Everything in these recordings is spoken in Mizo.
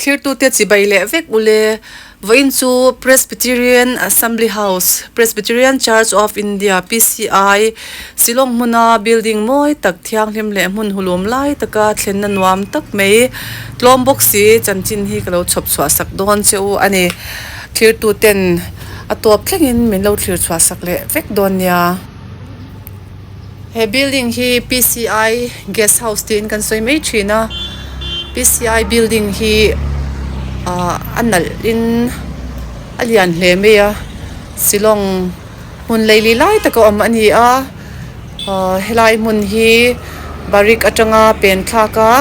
Thirtu te chibai leh vek ule, vawiin chu Presbyterian Assembly House, Presbyterian Church of India, PCI, Shillong hmuna building mawi tak, thianghlim leh hmun hulum lai taka thlenna nuam tak mai tlawm bawk si, chanchin hi ka lo chhawp chhuahsak dawn che u a ni. Thirtuten a tuap thlengin min lo thlir chhuahsak leh vek dawn nia. He building hi PCI Guest House tiin kan sawi mai thin a, PCI building hi a nalhin a lian hle mai a, Shillong. Hmun lei lih lai taka awm a ni a, helai hmun hi Barik atanga pen thlak a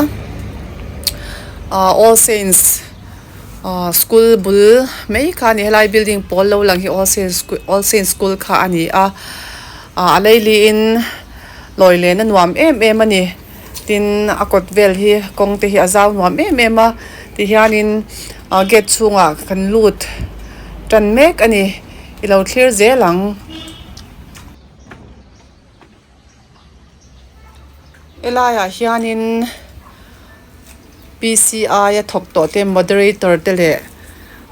All Saints School bul mai kha a ni, helai building pawl lo lang hi All Saints School kha a ni a, a lei li in lawi lehna nuam em em a ni, tin a kawt vel hi kawng te hi a zau nuam em em a, tihian in gate chhungah kan lut tan mek a ni. I lo thlir zel ang. I laiah hianin PCI a thawk tawh te Moderator te leh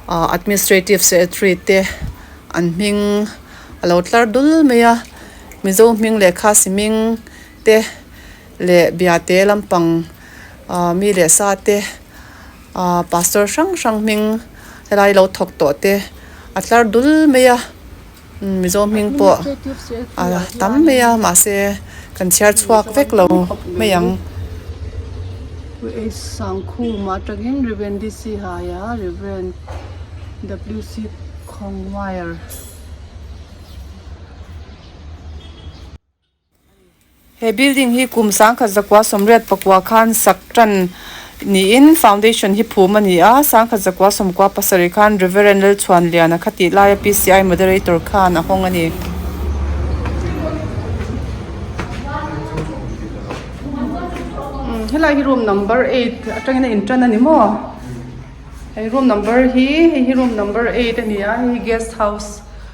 Administrative Secretary te an hming a lo tlar dul mai a. Mizo hming leh Khasi hming te. leh Biate lampang mi leh sa te, Pastor hrang hrang hming helai lo thawk tawh te a tlar dul mai a, Mizo hming pawh a tam mai a mahse kan chhiar chhuak vek lo mai ang. He building hi kum sangkhat zakua sawmriat pakua khan sak tan niin foundation hi phum a ni a, sangkhat zakua sawmkua pasarih khan Reverend Lalchhuanliana kha tih laia PCI moderator khan a hawng a ni. Helai hi room number eight atangin a intan a ni maw? Hei room number hi hei hi room number eight a ni a, hei hi guest house.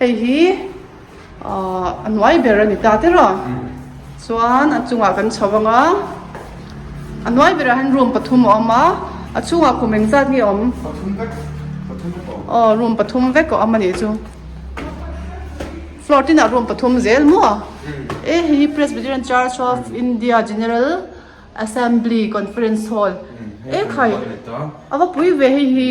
Hei hi ahh a nuai ber a ni ta tera chuan a chungah kan chho ang a, a nuai berah hian room pathum a awm a, a chhungah kum eng zat nge awm? Pathum vek, pathum vek a awm. Aw room pathum vek a awm a nih chu. Floor tinah room pathum zel maw? Umm. E hei hi Presbyterian Church of India General Assembly Conference Hall. Umm hei a nuai a ni ta. E khai a va pui ve hei hi.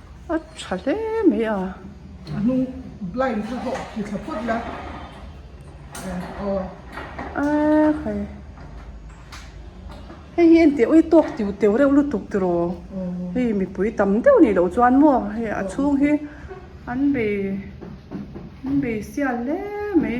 a tha hle mai a. A hnung blind kha ho ti thla phawt la aw. Hei hi en tih ui tawk tiu teu reuh lutuk ti rawh hei mipui tam deuh nih loh chuan maw hei a chhung hi an bei an bei sial hle mai.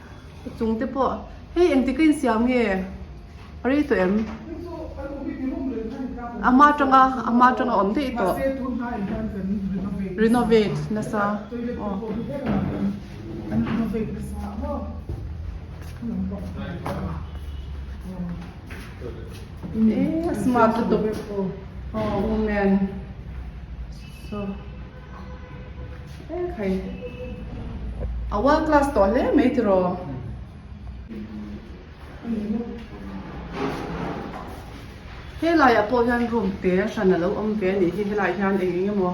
Ka chung te pawh hei engti ka insiam nge ka rei tawh em? Ama atanga ama atanga awm daih tawh renovate nasa aw eh smart lutuk aw woman so Ekhei. A world class tawh hle mai tiraw. Helai ah pawh hian room te hran alo awm ve anih hi helai hian eng eng emaw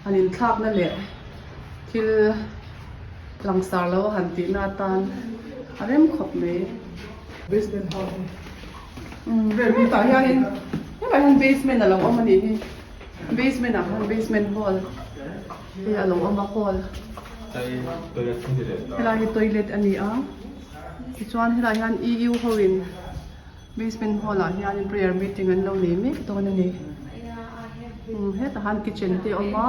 han in thlak na leh thil langsar lo han tih na atan a rem khawp mai. Basement house. Umm room tah hian in helai hian basement alo awm anih hi. Basement ah khan basement hall te alo awm a hall helai hi toilet a ni a tichuan helai hian EU ho in basement hall ah hian prayer meeting an lo nei mek dawn a ni umm hetah khan kitchen te a awm a.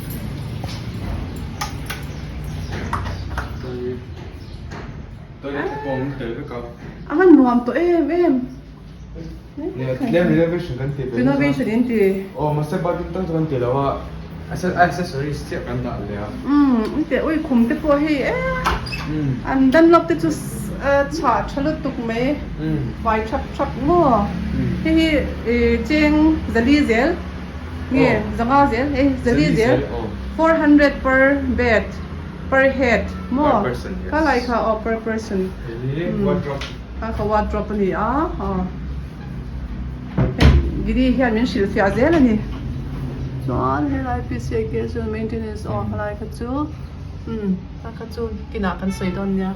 a han nuam tawh em em renovation in ti engteh ui khum te pawh hei eehh an dunlop te chu chhah tha lutuk mai fai thap thap maw hei hi cheng zali zel. nge zanga zel ei zali zel four hundred per bed per head maw ka laih kha aw per person ka kha wardrobe a ni a aw giri hian min hrilh fiah zel a ni chuan helai pc ake chu maintenance aw helai kha chu umm ta kha chu kinah kan sawi dawn nia.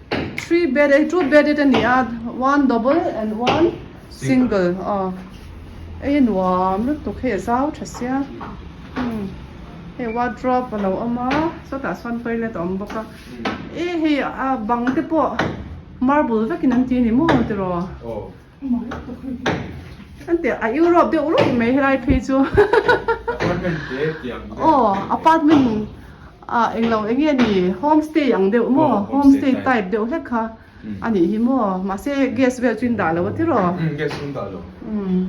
Three bed ei two bedded a ni a one double and one single a ei a nuam lutuk hei a zau tha sia umm hei wardrobe a lo awm a sawtah chuan toilet a awm bawk a e hei a bang te pawh marble vekin an ti a ni maw tiraw. Kan tia a Europe deuh ruih mai helai phei chu. Apartment te tiang. Oh, apartment a englo enge ni homestay ang deuh mo homestay type deuh hlek kha ani hi mo ma se guest vel chu in dah lo a ti rawh. Um guest in dah lo. Um.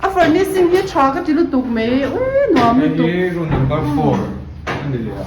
A furnishing hi tha ka ti lutuk mai u nuam lutuk. Hei hi room number four ani leh a.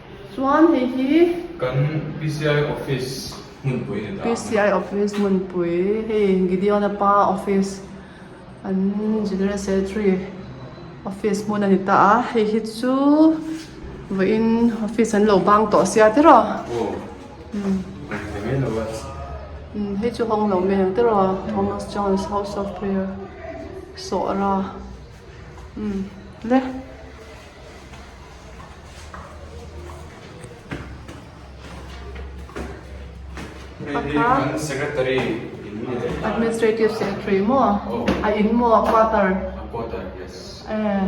Chuan hei hi kan PCI office hmunpui ni ta ang. PCI office hmunpui hei Gideon a pa office an general secretary office hmun a ni ta a. Hei hi chu vawiin office an lo bang tawh sia te rawh. Aw hawng ve mai lo a. Umm hei chu hawng lo mai ang te rawh a Thomas John's house of prayer Sawhra umm le. administrative secretary maw a in maw a quarter ehh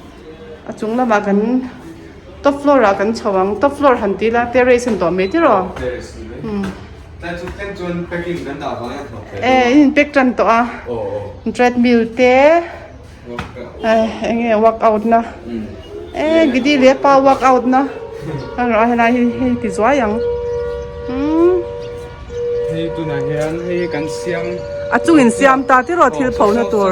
a chung lamah kan top floor ah kan chho ang top floor han tih ila terrace a ni tawh mai tih rawh eh in pack tan tawh a treadmill te enge workout na eh gidi leh pa workout na erawh a helai hi hei ti zuai ang a chungin siam ta tih rawh thil pho na tur.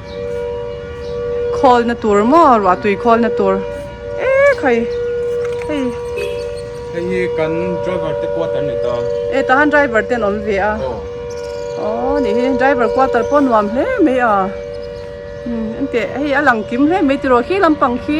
Khawlna tur maw ruah tui khawlna tur eee khai hei hei hi kan driver te quarter ni ta e ta han driver ten awm ve a aw aw ni hi driver quarter pawh nuam hle mai a hmm eng teh hei a lang kim hle mai tiraw khi lampang khi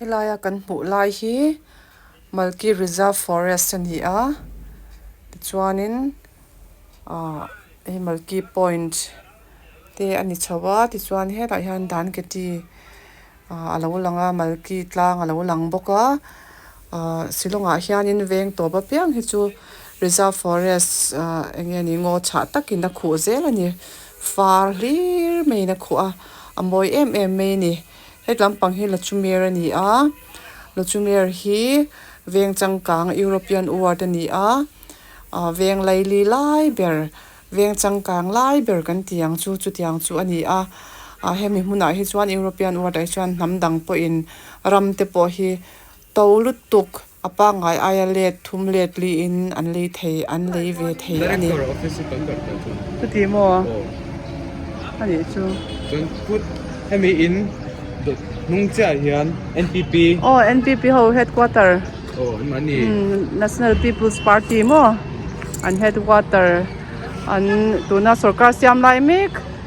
Helaia kan hmuh lai hi Malki Reserve Forest a ni a, tichuanin ahh hei Malki Point te a ni chhoh a, tichuan helah hian Dan Keti ahh a lo lang a, Malki Tlang a lo lang bawk a, ahh silawngah hianin veng tawp apiang hi chu Reserve Forest ahh eng nge ni ngaw chhah takin a khuh zel a ni, far hlir maiin a khuh a, a mawi em em mai a ni. hetlam pang hi Lachumer a ni a Lachumer hi veng changkang European word a ni a ah veng laili lai ber veng changkang lai ber kan ti ang chu chutiang chu a ni a ah hemi hmunah hi chuan European word ah hi chuan hnam dang pawhin ram te pawh hi To lutuk a pangngai aia let thum let li in an lei thei an lei ve thei a ni. Director office hi kan karh ta chuan. Ka ti maw? Aw. A nih chu. Chuan kut hemi in hnung chiah hian NPP. Aw NPP ho headquarter. Aw engmah ni. Umm National People's Party maw? An headquarter an tuna sorkar siam lai mek.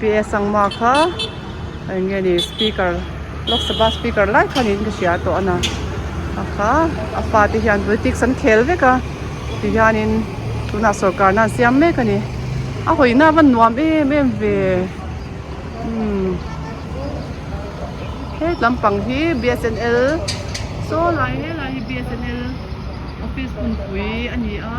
PS ang mah kha eng nge ni speaker Lok Sabha speaker lai kha niin ka hria tawh a na a kha a pa te hian politics an khel vek a ti hianin tunah sorkar na an siam mek a ni a hawi na van nuam em em ve umm het lam pang hi BSNL saw lai hle lai hi BSNL office hunpui a ni a.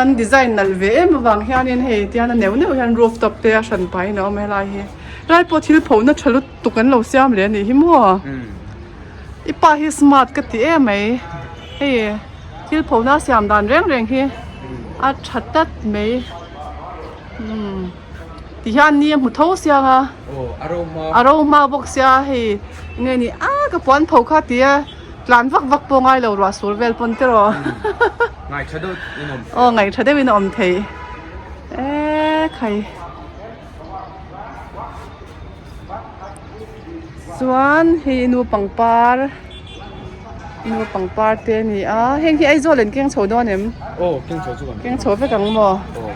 An design nalh ve em avang hianin hei tian a neuh neuh hian roof top te a hran pahin a awm e helai hi helai pawh thil pho na tha lutuk an lo siam leh anih hi maw i pa hi smart ka ti em mai hei thil pho na siam dan reng reng hi a tha tlat mai. Ti hian ni a hmu tho siang a, a rohma bawk sia hei nge ni a ka puan pho kha ti a tlan vak vak pawh ngai lo ruah sur vel pawn tiraw ngai tha deuh in a awm thei aw ngai tha deuh in a awm thei e khai. Chuan hei nu pangpar nu pangpar te a ni a heng hi Aizawl in keng chho dawn em aw keng chho chu kan keng chho vek ang maw aw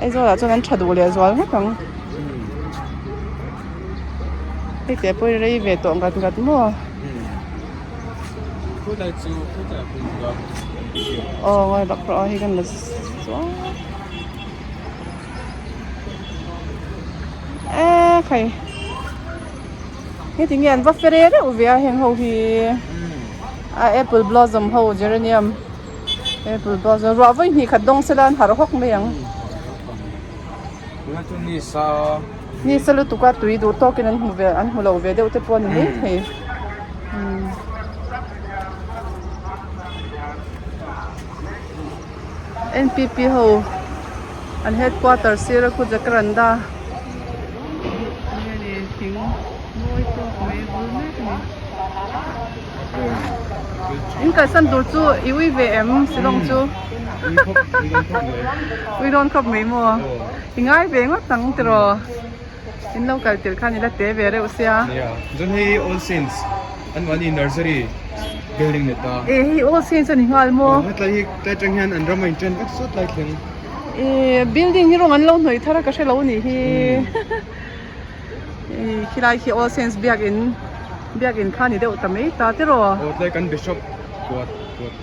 Aizawl ah chuan an tha duh leh zual vek ang hei te pawh rei ve tawh ngat ngat maw khutah chu khutah pawh ka aw ngawi bak rawh a hei kan la suau. phei heti nge an va fere reuh ve a heng ho hi a apple blossom ho geranium apple blossom ruah vawi hnih khat dawng sela an harh hawk mai ang ni sa ni sa lutuk a tui duh tawk in an hmu ve an hmu lo ve deuh te pawh a ni maithei NPP ho an headquarter sir a khu jakkar an dah a. In kalsan tur chu i ui ve em silawng chu? Ui rawn khawp mai maw? I ngai ve ngawt ang tiraw? In lo kal tel khan ila te ve reuh se a. Nia, chuan hei All Saints anmah ni Nursery building neta. E, hei All Saints a ni nghal maw? Aw, hetlai hi tlai atang hian an ram a inṭen vek sut lai thleng. E, building hi rawng an lo hnawih thar a ka hre lo nih hi. E, khi lai khi All Saints biak in, biak in kha ni deuh ta mai ta tiraw. Aw, tlai kan Bishop kuat, kuat.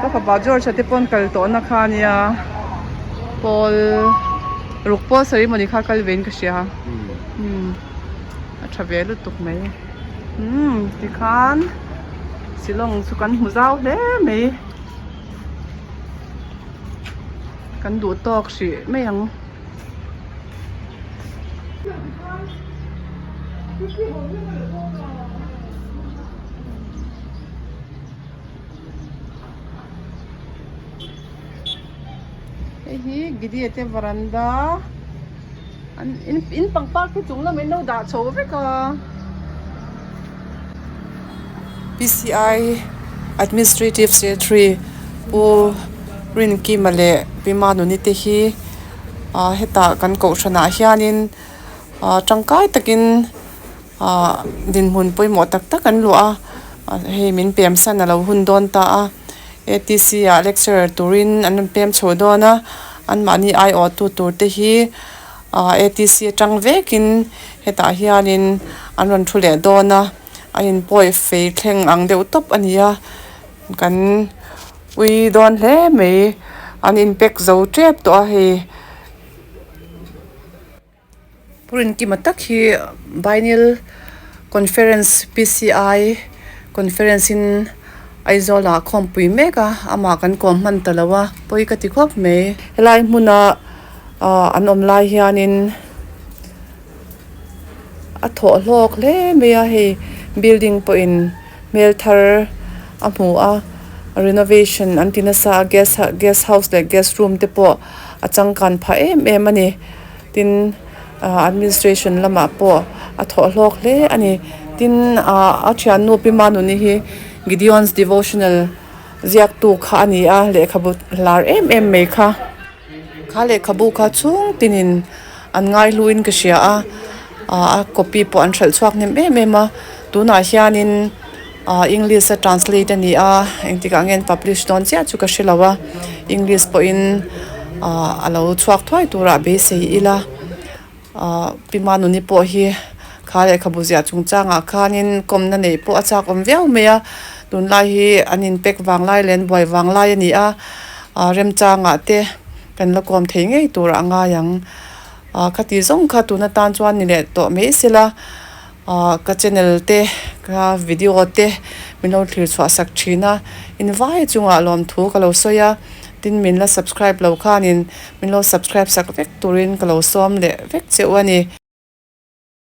Ka fapa George-a te pawn kal tawh na kha nia pawl ruk pawl ceremony kha kal ve in ka hria umm a tha ve lutuk mai umm tikhan silawng chu kan hmu zau hle mai kan duh tawk hrih mai ang. hei hi Gidia te varanda an in in pangpar khi chung lam in lo dah chho vek a PCI Administrative Secretary Pu Rinkima leh Pi Manoni te hi ahh hetah kan kohhran ah hian in ahh tangkai tak in-- Ahh dinhmun pawimawh tak tak an luah a, hei min pemsan a lo hun dawn ta a, ATC ah lecturer turin an rawn pem chho dawn a, anmahni aiawhtu tur te hi ahh ATC atang vekin hetah hianin an rawn thu leh dawn a, a in pawi fei thleng ang deuh tawp a ni a, kan ui dawn hle mai, an in pack zo tep tawh a hei. Phurin kima tak hi Biennial Conference PCI Conference in Aizawla a khawmpui mek a, amah kan kawm hman ta lo a, pawi ka ti khawp mai. Helai hmuna an awm lai hianin a thawh hlawk hle mai a, hei building pawhin. hmel thar a hmu a renovation an ti nasa a guest ha guest house leh guest room te pawh a changkan phah em em a ni tin ah administration lamah pawh a thawhlawk hle a ni tin ah a thiannu pi manu ni hi gideon's devotional ziaktu kha a ni a lehkhabu hlar em em mai kha. Kha lehkhabu kha chhung tinin an ngaihluin ka hria a, a copy pawh an hralh chhuak hnem em em a, tunah hianin English a translate a ni a, engtikah ngen publish dawn chiah chu ka hre lo a, English pawhin a lo chhuak thuai turah beisei ila. Aah Pi Manuni pawh hi kha lehkhabu ziah chung changah khanin kawmna neih pawh a chakawm viau mai a, tunlai hi an inpek vang lai leh an buai vang lai a ni a, aah remchangah te kan la kawm thei ngei tur a ngai ang. Aah khati zawng kha tun atan chuan ni leh tawh mai sela. Ahh ka channel te ka video te min lo thlir chhuah sak thin a, invai chungah lawmthu ka lo sawi a, tin min la subscribe lo khanin min lo subscribe sak vek turin ka lo sawm leh vek cheu a ni.